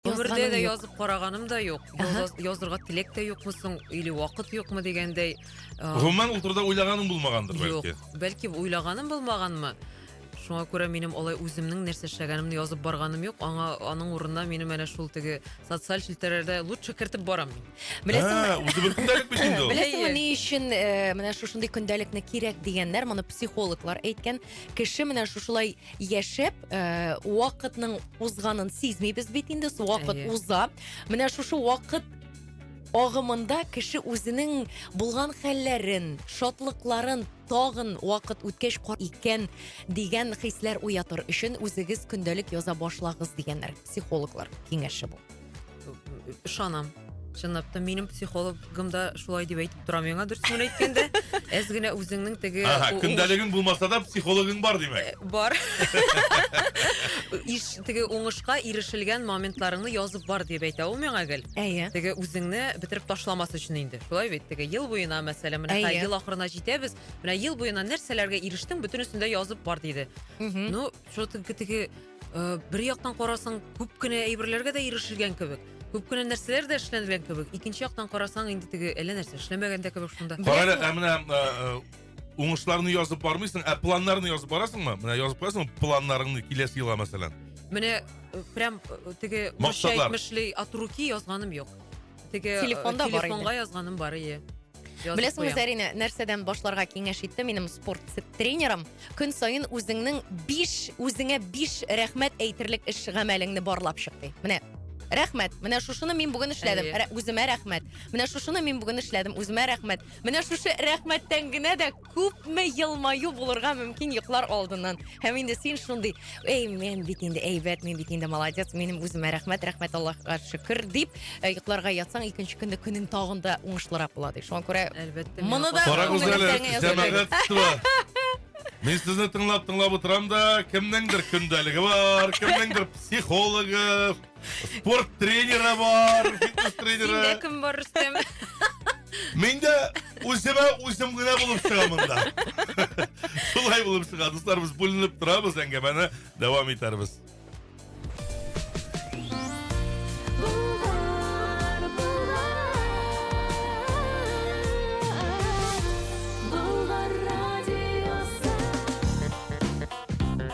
Гомердә дә язып караганым да юк. Язырга теләк тә юкмы соң, или вакыт юкмы дигәндәй. Гомумән ул турыда уйлаганым булмагандыр бәлки. Юк, бәлки уйлаганым булмаганмы? Шуңа күрә минем алай үземнең нәрсә эшләгәнемне язып барганым юк. Аңа аның урынына минем әнә шул теге социаль челтәрләрдә лучше кертеп барам. Беләсеңме? Үзе бер көндәлек бит инде ул. Беләсеңме ни өчен э, менә шушындый көндәлекне кирәк дигәннәр? Моны психологлар әйткән. Кеше менә шушылай яшәп ә, вакытның узганын сизмибез бит инде вакыт Әйе. уза менә шушы вакыт агымында кеше үзенең булган хәлләрен шатлыкларын тагын вакыт үткәч кар икән дигән хисләр уятыр өчен үзегез көндәлек яза башлагыз дигәннәр психологлар киңәше бу ышанам чынлап та минем психологым да шулай дип әйтеп тора миңа дөресен әйткәндә әз генә үзеңнең теге ага көндәлегең булмаса да психологың бар димәк э, бар иш теге уңышка ирешелгән моментларыңны язып бар дип әйтә ул миңа гел әйе теге үзеңне бетереп ташламас өчен инде шулай бит теге ел буена мәсәлән менә ел ахырына җитәбез менә ел буена нәрсәләргә ирештең бөтенесен дә язып бар диде ну что теге Э, бер яктан карасаң күп кенә әйберләргә дә ирешелгән кебек күп кенә нәрсәләр дә эшләнгән кебек икенче яктан карасаң инде теге әллә нәрсә эшләмәгән дә кебек шунда карале ә менә э, э, уңышларны язып бармыйсың ә планнарны язып барасыңмы менә язып куясың планнарыңны киләсе елга мәсәлән менә прям теге мошай мешли от руки язганым юк Теге телефонда э, бар телефонга язганым бар ие беләсеңме зәринә нәрсәдән башларга киңәш итте минем спорт тренерым көн саен үзеңнең биш үзеңә биш рәхмәт әйтерлек эш гамәлеңне барлап чык ди менә рәхмәт менә шушыны мин бүген эшләдем Рә, үземә рәхмәт менә шушыны мин бүген эшләдем үземә рәхмәт менә шушы рәхмәттән генә дә Күпме елмаю булырга мөмкин йоклар алдыннан. Һәм инде син шундый, эй, мен бит инде әйбәт, мен бит инде молодец, минем үземә рәхмәт, рәхмәт Аллаһка шөкер дип, э, йокларга ятсаң, икенче көнне көнең тагын да уңышлырак була ди. Шуңа күрә Әлбәттә. Моны да- Карагыз әле, Күңелдән язып җәмәгатьство. Мин сезне тыңлап-тыңлап утырам да, кемнеңдер көндәлеге бар, кемнеңдер психологы, Спорт тренеры бар, фитнес тренеры. Синдә кем бар, Рөстәм? Мин дә үземә үзем генә булып чыгам монда. Шулай булып чыга, дуслар, без бүленеп торабыз, әңгәмәне дәвам итәрбез.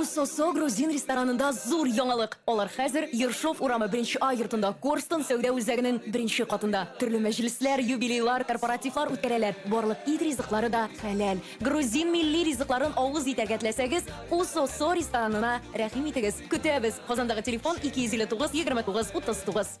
Усосо грузин ресторанында зур яңалык! Алар хәзер Ершов урамы беренче А йортында, Корстон сәүдә үзәгенең беренче катында. Төрле мәҗлесләр, юбилейлар, корпоративлар үткәрәләр. Барлык ит ризыклары да хәләл. Грузин милли ризыкларын авыз итәргә теләсәгез, Усосо ресторанына рәхим итегез. Көтәбез! Казандагы телефон, 259 29 39.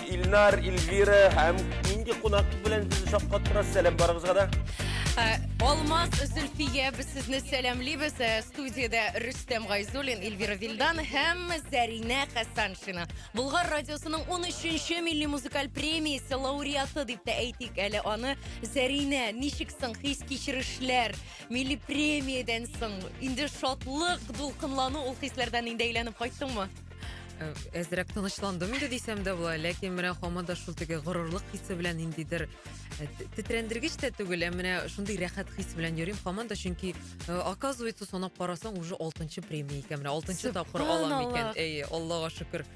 Илнар, Эльвира һәм нинди кунак белән безне шаккаттырасыз? Сәлам барыгызга да. Э, Алмаз Зөлфия без сезне сәламлибез. Э, Студиядә Рөстәм Гайзуллин, Эльвира Вилдан һәм Заринә Хәсаншина. Булгар радиосының 13-нче милли музыкаль премиясе лауреаты дип тә әйтик әле аны. Заринә, ничек соң хис-кичерешләр? Милли премиядән соң инде шатлык, дулкынлану ул хисләрдән инде әйләнеп кайттыңмы? Э, әзрәк тынычландым инде дисәм дә була ләкин менә хаман да шул теге горурлык хисе белән ниндидер э, тетрәндергеч тә түгел ә менә шундый рәхәт хис белән йөрим хаман да чөнки э, оказывается санап карасаң уже алтынчы премия икән менә алтынчы тапкыр алам икән әйе аллага шөкер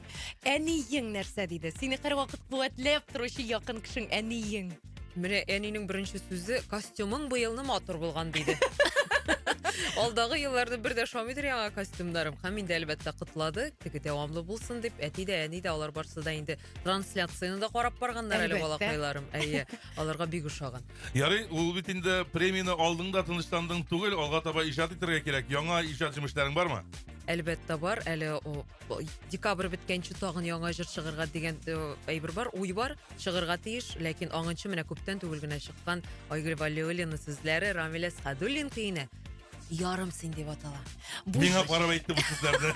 әниең нәрсә диде сине һәрвакыт куәтләп торучы якын кешең әниең Менә әнинең беренче сүзе костюмың быел ны матур булган диде. Алдагы елларны бер дә шамыйдыр яңа костюмнарым. Һәм инде әлбәттә котлады. Теге дәвамлы булсын дип, әти дә, әни дә алар барсы да инде трансляцияны да карап барганнар әле Әлбәттә. балакайларым. Әйе, аларга бик ошаган. Ярый, ул бит инде премияне алдың да тынычландың түгел, алга таба иҗат итәргә кирәк. Яңа иҗат җимешләрең бармы? Әлбәттә бар, әле о, декабрь беткәнче тагын яңа җыр чыгарга дигән э, әйбер бар уй бар чыгарга тиеш ләкин аңынчы менә күптән түгел генә чыккан айгөл валиуллина сүзләре рамилә садуллин көенә ярымсың дип атала миңа карап әйтте бу сүзләрне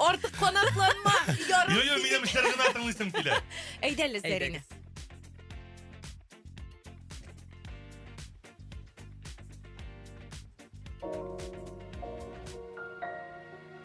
артык канатланма ярым йо йо минем эшләр генә тыңлыйсым килә әйдә әле зәринә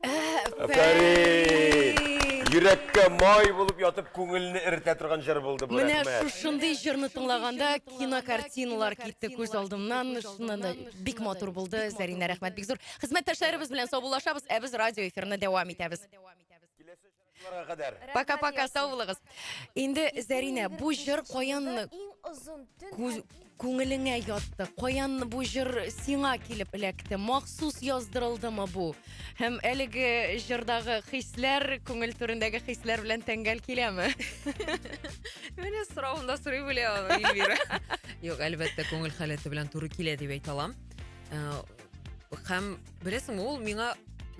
Әфәрин! Йөрәккә май булып ятып, күңелне эретә торган җыр булды бу, рәхмәт. Менә шушындый җырны тыңлаганда кинокартиналар китте күз алдымнан. Шуннан да бик матур булды. Зәринә, рәхмәт бик зур. Хезмәттәшләребез белән саубуллашабыз, ә без радиоэфирны дәвам итәбез. Пока пока сау булыгыз. Инде Зәринә, бу җыр каян күңелеңә ятты? Каян бу җыр сиңа килеп эләкте? Махсус яздырылдымы бу? Һәм әлеге җырдагы хисләр, күңел түрендәге хисләр белән тәңгәл киләме? Менә соравында сорый белә аны Эльвира. Юк, әлбәттә, күңел халәте белән туры килә дип әйтә алам. Э, һәм Беләсеңме, ул миңа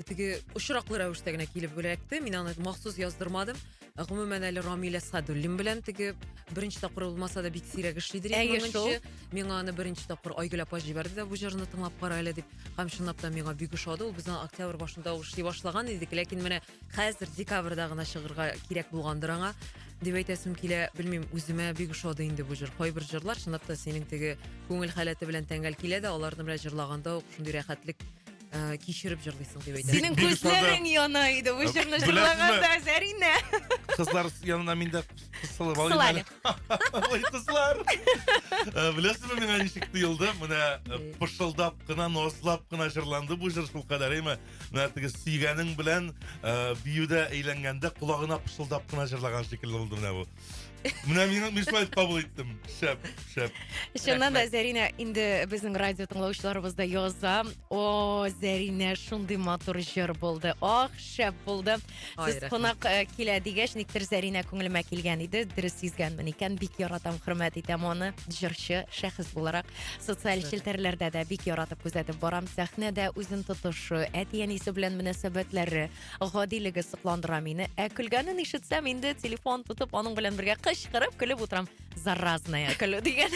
теге очраклы рәвештә генә килеп эләкте. Мин аны махсус яздырмадым. Ә гомумән әле Рамилә Садуллин белән теге беренче тапкыр булмаса да бик сирәк эшлидер. Әйе, Моның шул. өчен Миңа аны беренче тапкыр Айгөл апа җибәрде дә бу җырны тыңлап кара әле дип. Һәм чынлап та миңа бик ошады. Ул безнең октябрь башында ул эшли башлаган идек, ләкин менә хәзер декабрьда гына чыгарга кирәк булгандыр аңа дип әйтәсем килә белмим үземә бик ошады инде бу җыр кайбер җырлар чынлап та синең теге күңел халәте белән тәңгәл килә дә аларны белән җырлаганда ук шундый рәхәтлек ә, кичереп җырлыйсың дип әйтәсем Синең бик ошады. күзләрең яна иде бу җырны Беләсезме? җырлаганда, Зәринә. Кызлар янына мин дә кысылып алыйм Кысыл әле. әле. Ой, кызлар! Э, Беләсезме миңа ничек тоелды? Менә э, пышылдап кына, назлап кына җырланды бу җыр шулкадәр, әйме? менә теге сөйгәнең белән ә, биюдә әйләнгәндә колагына пышылдап кына җырлаган шикелле булды менә бу. Менә мин мин шулай итеп кабул иттем. Шәп, шәп. Чыннан да, Зәринә, инде безнең радио тыңлаучыларыбыз да яза. О, Зәринә, шундый матур җыр булды. Ах, шәп булды. Сез кунак э, килә дигәч, никтер Зәринә күңелемә килгән иде. Дөрес сизгәнмен икән. Бик яратам, хөрмәт итәм аны. Җырчы шәхес буларак социаль челтәрләрдә дә бик яратып күзәтеп барам. Сәхнәдә үзен тотышы, әти-әнисе белән мөнәсәбәтләре, гадилеге сокландыра мине. Ә көлгәнен ишетсәм, инде телефон тотып, аның белән бергә кычкырып көлеп утырам. заразная көлү дигән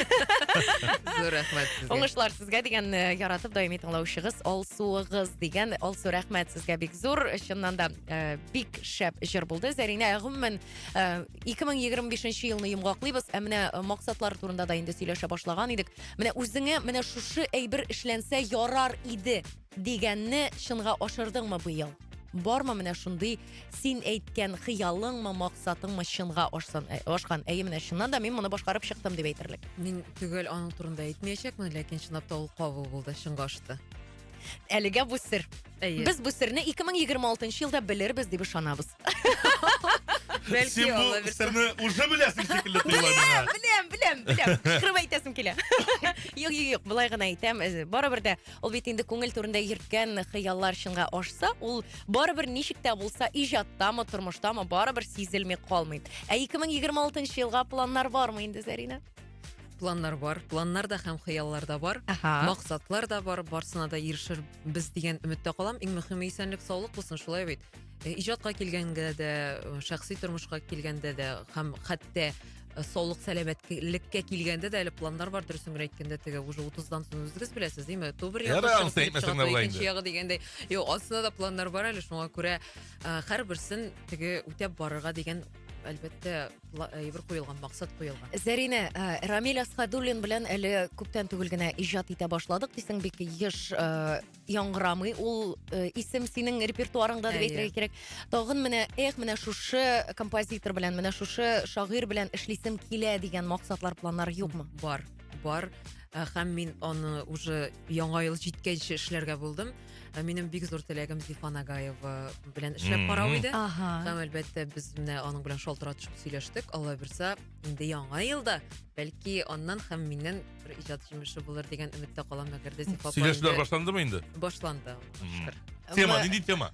Зур рәхмәт сезгә. уңышлар сезгә дигән э, яратып даими тыңлаучыгыз алсуыгыз дигән алсу рәхмәт сезгә бик зур чыннан да э, бик шәп җыр булды зәринә ә гомумән э, 2025 елны йомгаклыйбыз ә менә э, максатлар турында да инде сөйләшә башлаган идек менә үзеңә менә шушы әйбер эшләнсә ярар иде Дигәнне чынга ашырдыңмы быел? Бармы менә шундый син әйткән хыялыңмы, максатыңмы чынга ашсын, э, ашкан? Әйе, менә чыннан да мин моны башкарып чыктым дип әйтерлек. Мин төгәл аның турында әйтмәячәкмен, ләкин чынлап та ул кабул булды, чынга ашты. Әлегә бу сер. Әйе. Без бу серне 2026 елда белербез дип ышанабыз. Бәлки Син бу алла бирса. серне уже беләсең шикелле тоела миңа. Беләм, беләм, беләм. Кычкырып әйтәсем килә. Юк, юк, юк, болай гына әйтәм. Э, Барыбер дә Ул бит инде күңел турында йөрткән хыяллар чынга ашса, ул барыбер ничек тә булса иҗаттамы, тормыштамы барыбер сизелми калмый. Ә 2026 елга планнар бармы инде, Зарина? планнар бар планнар да һәм хыяллар да бар ага. максатлар да бар барсына да ирешербез дигән өметтә калам иң мөһиме исәнлек саулык булсын шулай бит э, иҗатка килгәнгә дә э, шәхси тормышка килгәндә дә һәм хәтта Э, саулык сәламәтлеккә килгәндә дә әле планнар бар дөресен генә әйткәндә теге уже утыздан соң үзегез беләсез ме түбер ягыкенче ягы дигәндәй юк астында да планнар бар әле шуңа күрә э, һәрберсен теге үтәп барырга дигән әлбәттә әйбер э, куелган максат куелган зәринә э, рамил асхадуллин белән әле күптән түгел генә иҗат итә башладык дисең бик еш э, яңгырамый ул э, исем синең репертуарыңда дип әйтергә кирәк тагын менә эх менә шушы композитор белән менә шушы шагыйрь белән эшлисем килә дигән максатлар планнар юкмы бар бар э, һәм мин аны уже яңа ел җиткәнче эшләргә булдым э, минем бик зур теләгем зифа нагаева белән эшләп карау иде ага. һәм әлбәттә без менә аның белән шалтыратышып сөйләштек алла бирса инде яңа елда бәлки аннан һәм миннән бер иҗат җимеше булыр дигән өметтә калам әгәр дә Зифа апа Сөйләшүләр инде- башландымы инде? башланды Мгм. шөкер Тема, Ва- нинди тема?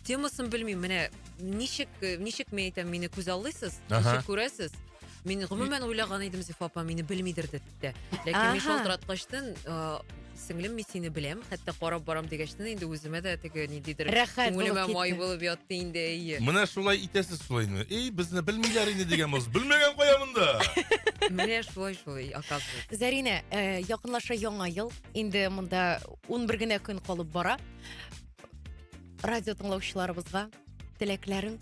темасын белмим менә ничек э, ничек мен әйтәм мине күз аллыйсыз Аха. ничек күрәсез мин гомумән уйлаган идем зифа апа мине белмидер дип тә ләкин мин Аха. шалтыраткачтын э, Сеңлем, мин сине беләм, хәтта карап барам дигәчтен инде үземә дә теге ниндидер Рәхәт булып күңелемә китте. май булып ятты инде, әйе. Менә шулай итәсез шулай инде. Эй, безне белмиләр инде дигән булсыз. Белмәгән кая монда? Менә шулай шулай, оказывается. Зәринә, э, якынлаша яңа ел. Инде монда 11 генә көн калып бара. Радио тыңлаучыларыбызга теләкләрең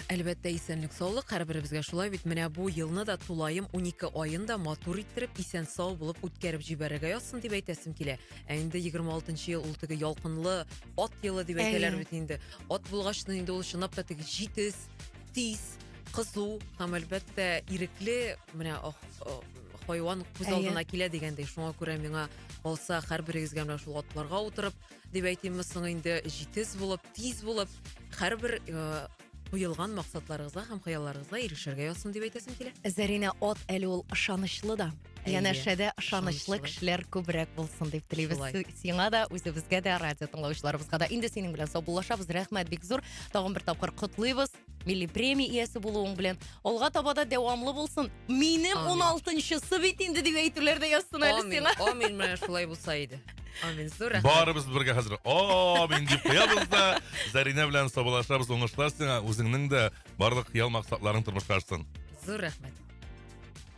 әлбәттә исәнлек саулык һәрберебезгә шулай бит менә бу елны да тулаем 12 аен да матур иттереп исән сау булып үткәреп җибәрергә язсын дип әйтәсем килә ә инде 26 ел ул теге ялкынлы ат елы дип әйтәләр бит инде ат булгач инде ул чынлап та теге җитез тиз кызу һәм әлбәттә ирекле менә хайван күз алдына килә дигәндәй шуңа күрә миңа калса һәрберегезгә менә шул атларга утырып Дип әйтимме соң инде, җитез булып, тиз булып, һәрбер э, куелган максатларыгызга һәм хыялларыгызга ирешергә язсын дип әйтәсем килә. Зәринә от әле ул ышанычлы да. Әйе, Янәшәдә ышанычлы ышанычлы. кешеләр күбрәк булсын дип телибез Шулай. Си- сиңа да, үзебезгә дә, радио тыңлаучыларыбызга да. Инде синең белән саубуллашабыз. Рәхмәт бик зур. Тагын бер тапкыр котлыйбыз. милли премия иясе булуың белән алга таба да дәвамлы булсын минем Амин. он алтынчысы бит инде дип әйтүләр дә язсын әле Амин, сиңа амин, менә шулай булса иде. Амин, зур рәхмәт. Барыбыз бергә хәзер амин дип куябыз да Заринә белән саубалашабыз уңышлар сиңа үзеңнең дә барлык хыял максатларың тормышка ашсын. Зур рәхмәт.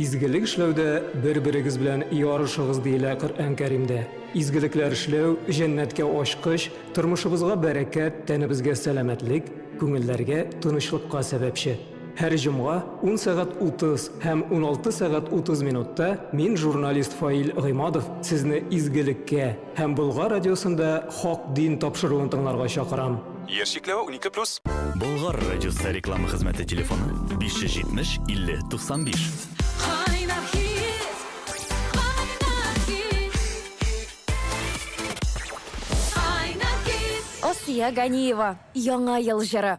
Изгелек эшләүдә бер-берегез белән ярышыгыз, диелә Коръән Кәримдә. Изгелекләр эшләү, җәннәткә ачкыч, тормышыбызга бәрәкәт, тәнебезгә сәламәтлек, күңелләргә тынычлыкка сәбәпче. Һәр җомга, 10 сәгать 30 һәм 16 сәгать 30 минутта мин, журналист Фаил Гыймадов, сезне изгелеккә, Һәм Болгар радиосында Хак дин тапшыруын тыңларга чакырам. Яшь чикләве унике плюс. Болгар радиосы реклама хезмәте телефоны, 570 50 95. Кайнар хит, кайнар хит. Кайнар хит. Асия Ганиева, Яңа ел җыры.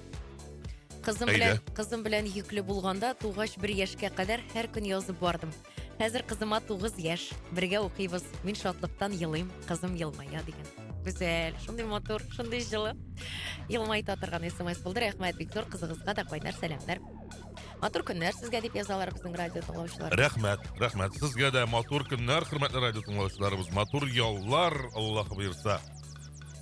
Кызым Әйдә. белән кызым белән йөкле булганда тугач бер яшькә кадәр һәр көн язып бардым. Хәзер кызыма 9 яшь. Бергә укыйбыз. Мин шатлыктан елыйм, кызым елмая дигән. Гүзәл, шундый матур, шундый җылы. Елмайта торган смс булды. Рәхмәт бик зур кызыгызга да кайнар сәламнәр. Матур көннәр сезгә дип язалар безнең радио тыңлаучылар. Рәхмәт, рәхмәт. Сезгә дә матур көннәр, хөрмәтле радио тыңлаучыларыбыз. Матур яллар, Аллаһ боерса.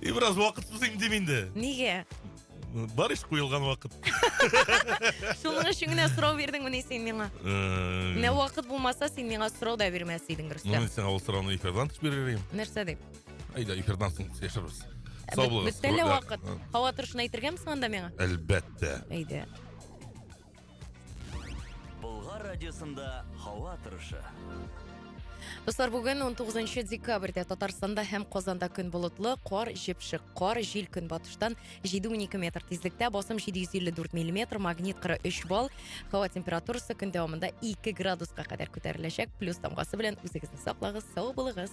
И бераз вакыт узыйм дим инде. Нигә? Бар ич куелган вакыт. Шуның өчен генә сорау бирдеңмени син миңа? Э, Менә вакыт булмаса, син миңа сорау да бирмәс идең, Ну, Рөстәм. мин сиңа ул сорауны эфирдан тыш бирер идем. Нәрсә дип? Әйдә, эфирдан соң сөйләшербез. Ә Сау бит- булыгыз. Бит әле Рәхмәт. вакыт. Һава торышын әйтергәме соң анда миңа? Әлбәттә. Әйдә. Болгар радиосында һава торышы. Дуслар, бүген 19 декабрьдә Татарстанда һәм Казанда көн болытлы, кар җепшек, кар жил көнбатыштан 7-12 метр тизлектә, басым 754 мм, магнит 43 балл, һава температурасы көн дәвамында 2 градуска кадәр күтәреләчәк. Плюс тамгасы белән үзегезне саклагыз, сау булыгыз.